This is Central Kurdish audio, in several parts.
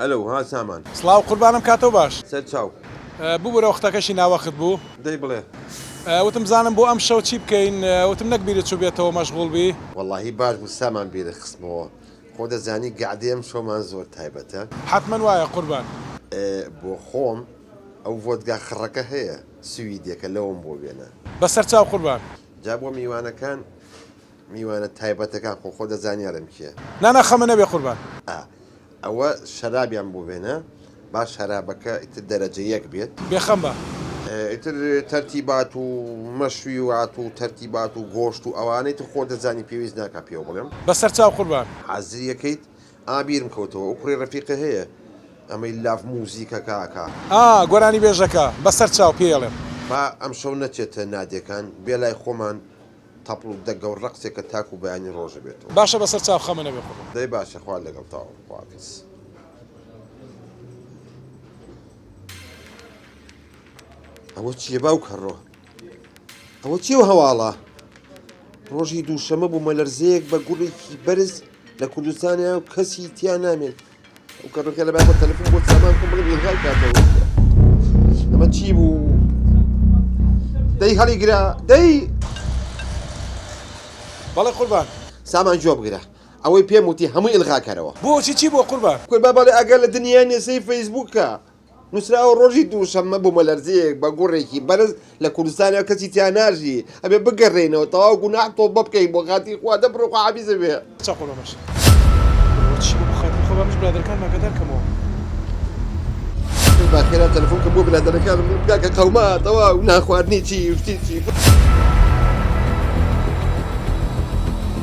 ئەلەو ها سامان. سڵاو قوربانم کاتۆ باش. سەر چاو. ببورە وەختەکەشی ناوەخت بوو. دەی بڵێ. وتم بزانم بۆ ئەم شەو چی بکەین وتم نەک بیرت چوبێتەوە مەشغوڵ بی. وەڵاهی باش بوو سامان بیرت خستمەوە خۆ دەزانی گەعدەی ئەم شەومان زۆر تایبەتە. حەتمەن وایە قوربان. بۆ خۆم ئەو ڤۆدگا خڕەکە هەیە سویدیەکە لەوم بۆ بێنە. بەسەر چاو قوربان. جا بۆ میوانەکان میوانە تایبەتەکان خۆ خۆ دەزانیارم کێ. نا نا خەمە نەبێ قوربان. ئا ئەوە شەرابیان بۆ بێنە با شەرابەکە ئیتر دەرەجە یەک بێت. بێخەم بە. ئیتر تەرتیبات و مەشویوات و تەرتیبات و گۆشت و ئەوانە ئیتر خۆ دەزانی پێویست ناکا پێو بڵێم. بەسەر چاو قوربان. حازری ئەکەیت؟ ئا بیرم کەوتەوە ئەو کوڕی ڕەفیقە هەیە ئەمەی لاف موزیکەکە ئەکا. ئا گۆرانیبێژەکە بەسەر چاو پێی ئەڵێم. با ئەمشەو نەچێتە نادێکان بێ لای خۆمان تەپڵ دەگە و ڕەقسێکە تاکوو بەیانی ڕۆژ ئەبێتەوە. باشە بەسەر چاو خەمە نەبێ قوربان. دەی باشە خوا لەگەڵتاە خوافیز. ئەوە چیە باوک هەڕۆ ئەوە چی و هەواڵە ڕۆژی دووشەمە بوومە لەرزەیەک بە گوڵێکی بەرز لە کوردستانە و کەسی تیا نامێن ئەو کەڕەکە لە بابە تەلەفۆن بۆ سامان کۆم بڵێ ئیلغای کاتەوە ئەمە چی بوو دەی هەڵی گرا دەی بەڵێ قوربان سامان جواب گرە ئەوەی پێم وتی هەمووی ئلغاکەرەوە بۆچی چی بۆ قوربان کوربا بەڵێ ئەگەر لە دنیای نێسەی فەیسبووکە نوسراوە ڕۆژی دووشەممە بومەلەرزەیەک بە گوڕێکی بەرز لە کوردستانە کەسی تیا ناژی ئەبێ بگەڕێینەوە تەواو گوناح تۆبە بکەین بۆ خاتری خوا دە بڕۆ خوا حافیزت بێ. چا خۆ بەمەش بەوە چی بۆ بۆ خاتری خوا بەمەش برادەرەکانم ئاگادار کەمەوە. کەس با خێرا تەلەفۆن کە بۆ برادەرەکانم بڵێ بگا کە قەوما تەواو نان خواردنی چی و شتی چی.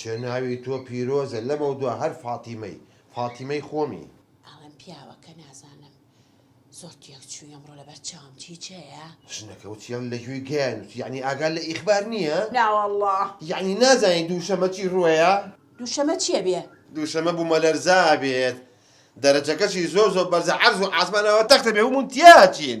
کێ ناوی تۆ پیرۆزە لەمەودوا هەر فاتیمەی فاتیمەی خۆمی. ئەڵێم پیاوە کە نازانم. زۆر تێک چوی ئەمڕۆ لەبەر چاوم چی جێیە. ژنەکە وتیان لە گوێی گیان وتی یەعنی ئاگات لە ئیخبار نیە؟ ناوەڵڵا. یەعنی نازانی دووشەمە چی ڕوەیە؟ دووشەمە چیە بێ؟ دووشەمە بومەلەرزە ئەبێت دەرەجەکەشی زۆر زۆر بەرزە عەرز و عاسمان ئەوە تەختە بێ هومون تیاچین.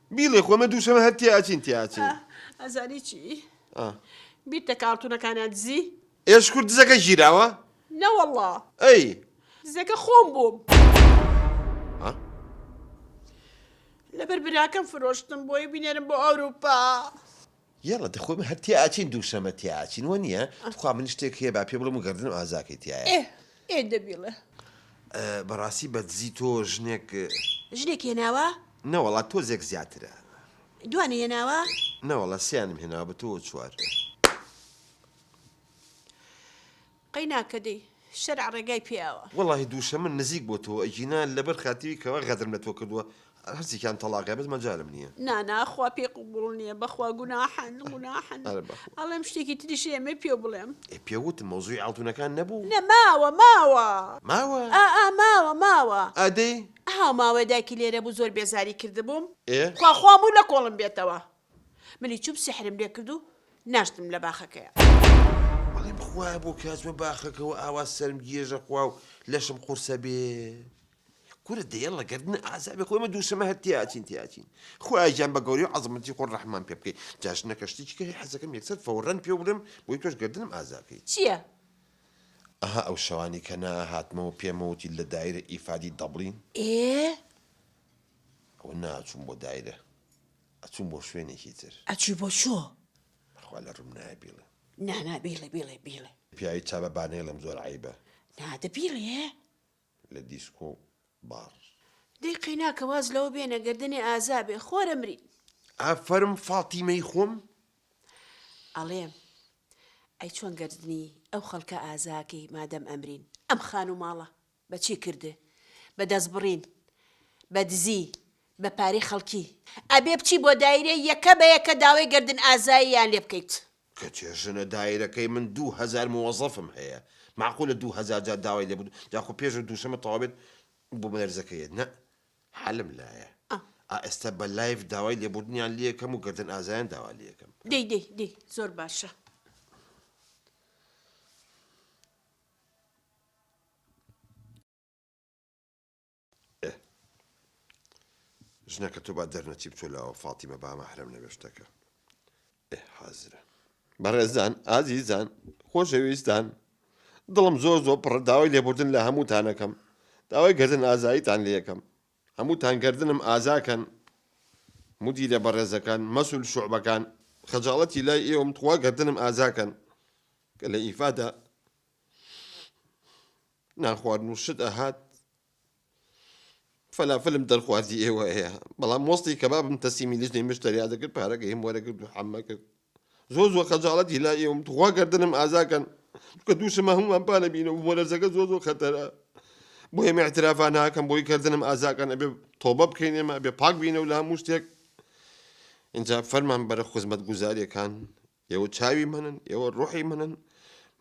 بیڵێ خۆ ئمە دووشەمە هەر تێ ئەچین تێ ئەچین. ئەزانی چی؟ ئا. بیرتە کاڕتونەکانیان دزی؟ ئێ شکور دزەکە گیراوە؟ نەوەڵڵا. ئەی. دزەکە خۆم بووم. ها؟ لەبەر براکەم فرۆشتم بۆی بینێرم بۆ ئەوروپا. یەڵا دە خۆی من هەر تێئاچین دووشەمە تێئاچین وە نیە تخوا من شتێک هەیە با پێ بڵێم و گەردنم ئازاکەی تایە ئێ ئێ دە بیڵێ. بەڕاستی بە دزی تۆ ژنێک ژنێک هێناوە؟ نەوەڵا تۆزێک زیاترە. دوانێ هێناوە؟ نەوەڵا سێیانم هێناوە بە تۆوە چوار. قەیناکە دەی شەرع ڕێگای پێیاوە. وەڵاهی دووشەمن نزیک بۆ تۆ ئەگینا لەبەر خاتری کەوا غەدرم لە تۆ کردووە هەرسێکیان تەڵاقە بەس مەجالم نیە. نانا خوا پێی قبوڵ نیە بەخوا گوناحن گوناحن ئەڵێم شتێکی تریش ئێمەی پێو بڵێم. ئێ پێ وتم مەوزوعی ئاڵتونەکان نەبوو. نە ماوە ماوە. ماوە؟ ئا ئا ماوە ماوە. ئا دەی. هاوماوەی دایکی لێرە بوو زۆر بێزاری کردبووم. ئێ. خوا خوا موو لە کۆڵم بێتەوە. منی چوم سحرم لێ کرد و ناشتم لە باخەکەیا. بەڵێ بخوایە بۆ کاچمە باخەکەوە ئاوا سەرم گێژە خوا و لەشم قورسە بێ. کورە دە یەڵڵە گەردنە ئازابێ خۆ ئێمە دووشەمە هەر تێئەچین تێئەچین. خوایە گیان بە گەورەی و عەزەمەتی خۆت ڕەحممان پێ بکەی. جا ژنەکە شتێکی کە هەی حەزەکەم یەکسەر فەورەن پێو برم بۆی تۆش گەردنم ئازا کەی. چییە؟ ئەها ئەو شەوانەی کە نائەهاتمەوە پێمە وتی لە دایرە ئیفادی دەبڵین. ئێ. ئەوە ناچووم بۆ دایرە. ئەچووم بۆ شوێنێکی تر. ئەچووی بۆ کوێ؟ بەخوا لە ڕووم نایە بیڵێم. نا نا بیڵێ بیڵێ بیڵێ. پیاوی چاڤە با نەیڵێم زۆر عەیبە. نا دە بیڵێ. لە دیسکۆ باڕ. دەی قەیناکە واز لەوە بێنە گەردنێ ئازا بێ خۆرە مرین. ئافەرم فاتیمەی خۆم. ئەڵێم ئەی چۆن گەردنی ئەو خەڵکە ئازا کەی مادەم ئەمرین ئەم خانوو ماڵە. بە چی کرد؟ بە دەستبڕین، بە دزی، بە پارەی خەڵکی. ئەبێ بچی بۆ دایرە یەکە بە یەکە داوای گەردن ئازاییان لێ بکەیت. کەچێ ژنە دایرەکەی من دوو هەزار موەزەفم هەیە مەعقولە دوو هەزار جار داوای لێ بکم جا خۆ پێش دووشەمە تەواو بێت بۆ مەرزەکە یێت نە حەلم لایە ئا ئێستا بە لایڤ داوای لێبوردنیان لێ کەم و گەردن ئازایان داوا لێ کەم. دەی دەی دەی زۆر باشە. ئه ژنەکە تۆ با دەرنەچی بچۆ لەوە فاتیمە با مەحرەم نەبێ شتەکە ئه حازرە. بەڕێزان ئازیزان خۆشەویستان دڵم زۆر زۆر پڕە داوای لێبوردن لە هەمووتانەکەم داوای گردن ئازاییتان لەکەم هەمووتان گردنم ئازاکەن مدیرە بەڕێزەکان مەسول شعبەکان خەجاڵەتی لای ئێوەم تخوا گردنم ئازاکەن کە لە ئیفادە نانخواردن و شت ئەهات فەلافلم دەرخوازی ئێوە هەیە بەڵام وەستی کەبابم تەسیمی لیژنەی مشتەریا دەکرد پارەکە هیم وەرەگرد و حەمە کرد زۆر زۆر خەجاڵەت هیلا ئێوم تخوا گردنم ئازاکەن کە دووشمە هەمومان پانە بینە و مۆلەرزەکە زۆر زۆر خەتەرە بۆ ئێمە اعترافا ناکەم بۆی کردنم ئازاکەن ئەبێ تۆبە بکەین ئێمە بێ پاک بینە و لە هەموو شتێک اینجا فەرمان بەرە خزمەت گوزاریەکان ئێوە چاوی منن، ئێوە ڕوحی منن،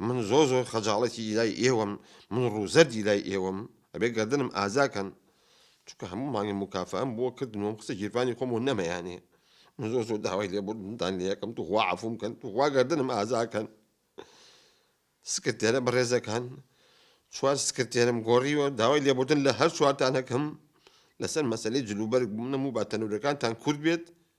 من زۆر زۆر خەجاڵەتی لای ئێوەم، من ڕوو زەردی لای ئێوەم، ئەبێ گەردنم ئازا کەن، چونکە هەموو مانگێ موکافەئەم بۆ کردن و قسە گیرفانی خۆم و نەمەیانێ، من زۆر زۆر داوای لێبوردنتان لێ ئەکەم، توخوا عەفووم کەن، توخوا گەردنم ئازا کەن. سکرتێرە بەڕێزەکان، چوار سکرتێرم گۆڕیوە، داوای لێبوردن لە هەر چوارتان ئەکەم، لەسەر مەسەلەی جلوبەرگ بوونم و با تەنورەکانتان کورت بێت،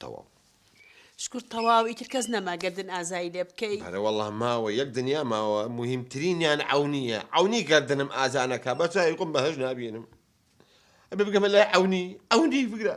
تەواو. شکور تەواو ئیتر کەس نەما گەردن ئازایی لێ بکەی. بەرە وەڵا ماوە یەک دنیا ماوە موهیم ترینیان عەونیە عەونی گەردنم ئازا نەکا بە چاوی خۆم بەهەشت نابینم ئەبێ بگەمە لای عەونی عەونی بگرە.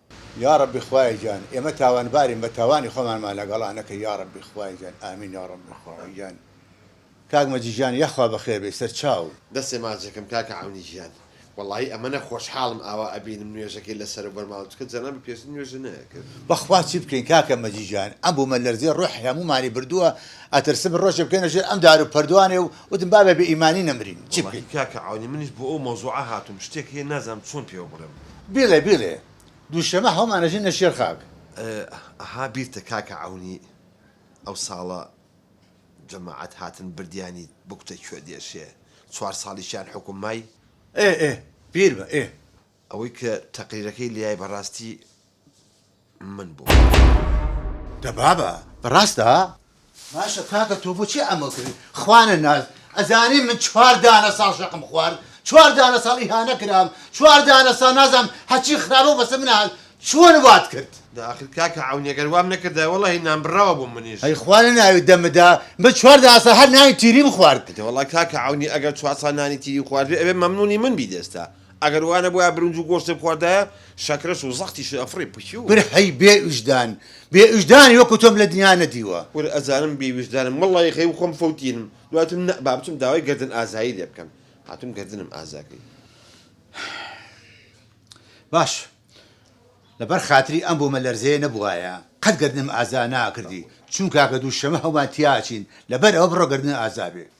یاڕەبی خوایە گیان ئێمە تاوانبارین بە تاوانی خۆمانمان لەگەڵا نەکەی یاڕەبی خوایە گیان ئامین یاڕەبی خوایە گیان کاک مەجی گیان یاخوا بەخێر بێی سەرچاو. دەستێ ماچێکم کاکە عەونی گیان. وەڵاهی ئەمەنە خۆشحاڵم ئاوا ئەبینم نوێژەکەی لەسەرە بەرماڵە چونکە جەنابی پێشتر نوێژی نەئەکرد. بەخوا چی بکەین کاکە مەجی گیان ئەم بومە لەرزەی ڕۆحی هەمومانی بردوە ئەترسم ڕۆژێ بکەینە ژێر ئەم دارو پەردوانێ و وتم با بە بێ ئیمانی نەمرین چی بکەین. وەڵاهی کاکە عەونی منیش بۆ ئەو مەوزوعە هاتوم شتێک هەیە نازانم چۆن پێوە بڵێم بلێ بلێ دوشەمە هەومان ئەژین لە شێر خاک. ئەها بیرتە کاکە عەونی ئەو ساڵە جەماعەت هاتن بردیانی بوکتە کوێ دێشێ چوار ساڵیشیان حوکم مای. ئێ ئێ پیر بە ئێ. ئەوەی کە تەقریرەکەی لێیای بەڕاستی. من بووم. دە بابە ڕاستە؟ باشە کاکە تۆ بۆچی ئەمە کردی خوانە ناز ئەزانی من چوار دانە ساڵ شەقم خوارد چوار دانە ساڵ ئیهانە کرام چوار دانە ساڵ نازام هەچی خراپە بەسە من هات چۆن وات کرد داخل کاکە عەونی گەر وام نەکردای وەڵاهی نانبڕاوە بووم منیش ئەی خوا لە ناوی دەمدا من چوار دانە ساڵ هەر نانی تیریم خوارد. دەوەڵا کاکە عەونی ئەگەر چوار ساڵ نانی تیری خواردبێ ئەبێ مەمنونی من بیت ئێستا ئەگەر وا نەبوایە برنج و گۆشتم خواردایە شەکرەش و زەختیش ئەفڕی پشیو. کورە هەی بێ ویژدان بێ ویژدانی وەکو تۆم لە دنیا نەدیوە. کورە ئەزانم بێ ویژدانم واللە یەخەی و خۆم فەوتینم دوای وتم نە با بچم داوای گەردن ئازایی لێ بکەم هاتوم گەردنم ئازاکەی. باش لە بەر خاتری ئەم بۆمە لەرزەیە نەبوایە قەت گەردنم ئازا ناکردی چون کاکە دوو شەمە هەومان تیا ئەچین لە بەر ئەوە بڕۆ گەردنت ئازا بێ.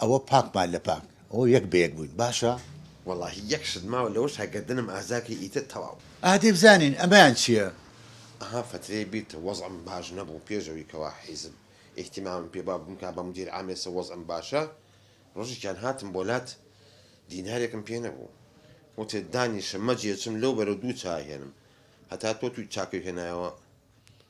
ئەوە پاکمان لە پاک ئەوە یەک بە یەک بووین باشە. وەڵاهی یەک شت ماوە لەوەشا گەردنم ئازا بکەی ئیتر تەواو. ئەها دەی بزانین ئەمەیان چیە. ئەها فەترەیە بیرتە وەزعم باش نەبوو پێش ئەوی کەوا حیزب ئیهتیمامم پێ بوە بمکا بە مدیر عام ئێسە وەزعم باشە ڕۆژێکیان هاتم بۆ لات دینارێکم پێ نەبوو وتت دانیشە مەجێ چم لەو بەرەو دوو چا هێنم هەتا تۆ توی چاکەو هێنایەوە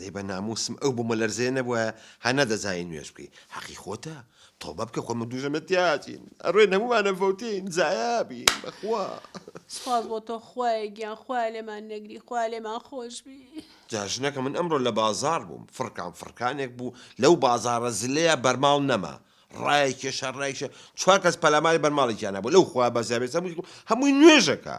دەی بە ناموسم ئەو بومەلەرزەیە نەبوایە ها نەدەزانی نوێژ بکەی حەقی خۆتە تۆبە بکە خۆمە دوژە مەتیاجین ئەڕێ نەمومانە فەوتین زایابی بەخوا سپاس بۆ تۆ خوایە گیان خوا لێمان نەگری خوا لێمان خۆش بی جاژنەکە من ئەمڕۆ لە بازار بووم فڕکان فڕکانێک بوو لەو بازارە زلەیە بەرماڵ نەما ڕایە کێشە ڕایشە چوار کەس پەلاماری بەرماڵێکیان نەبوو لەو خوا بەزیابێت هەمووی نوێژەکە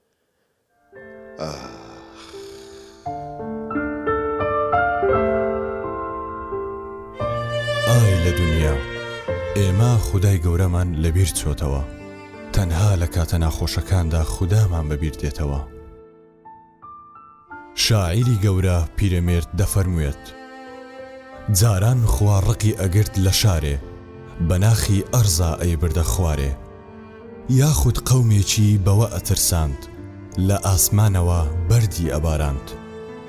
ئای لە دونیا ئێمە خودای گەورەمان لەبیر چۆتەوە تەنها لە کاتە ناخۆشەکاندا خودامان بەبیر دێتەوە. شاعیری گەورە پیرەمێرد دەفەرموێت، جاران خوا ڕقی ئەگرت لە شارێ، بە ناخی ئەرزا ئەیبردە خوارێ. یاخود قەومێکی بەوە ئەترساند، لە ئاسمانەوە بەردی ئەباراند.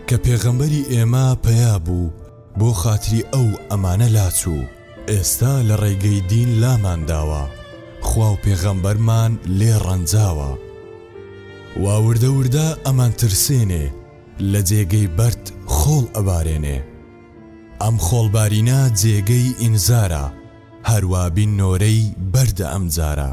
کە پێغەمبەری ئێمە پەیا بوو، بۆ خاتری ئەو ئەمانە لاچوو ئێستا لە ڕێگەی دین لامان داوە خوا و پێغەمبەرمان لێ ڕەنجاوە وا وردە وردە ئەمانترسێنێ لە جێگەی بەرد خۆڵ ئەبارێنێ ئەم خۆڵبارینە جێگەی ئینزارە هەروابین نۆرەی بەردە ئەمجارە.